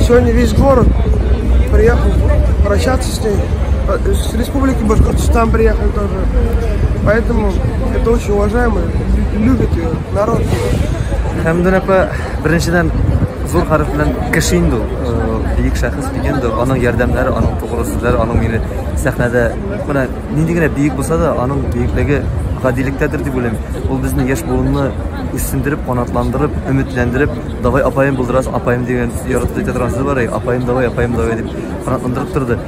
Сегодня весь город приехал прощаться с ней. Э, с республики Башкортостан приехали тоже. Поэтому это очень уважаемо. Любит ее народ. Хәмдүн апа, беренчедән зур хәреф белән кеше инде ул. Э, бөек шәхес дигән дә, аның ярдәмнәре, аның тугры сүзләре, аның мине сәхнәдә менә нинди генә бөек булса да, аның бөеклеге гадилектәдер дип уйлыйм. Ул безне яшь буынны үсендереп, канатландырып, өметләндереп, Давай апаем булдырас, апаем дигән яратып әйтә торган сүз бар, апаем давай, апаем давай дип канатландырып торды.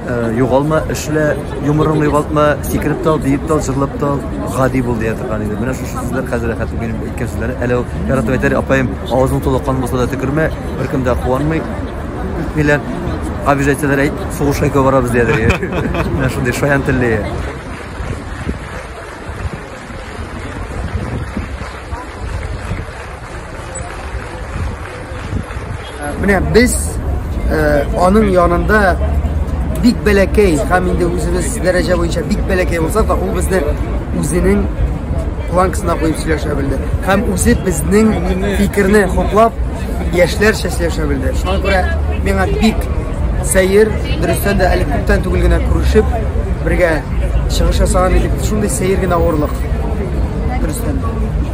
Э, югалма, эшлә, юморыңны югалтма, сикереп тал, биеп тал, җырлап тал, гади бул дия торган иде. Менә шушы сүзләр хәзер рәхәт минем әйткән сүзләре. Әле ул яратып әйтер, апаем, авызың тулы кан булса да төкермә, беркем дә куанмый. Миләр обижательләр әйт, сугышка икәү барабыз диядер. Менә шундый шаян телле. Менә без э, аның янында бик бәләкәй һәм инде үзебез дәрәҗә буенча бик бәләкәй булса да ул безне үзенең планкасына куеп сөйләшә белде һәм үзе безнең фикерне хуплап яшьләрчә сөйләшә белде шуңа күрә миңа бик сәер дөрестән дә әле күптән түгел генә күрешеп бергә чыгыш ясаган идек шундый сәер генә авырлык дөрестән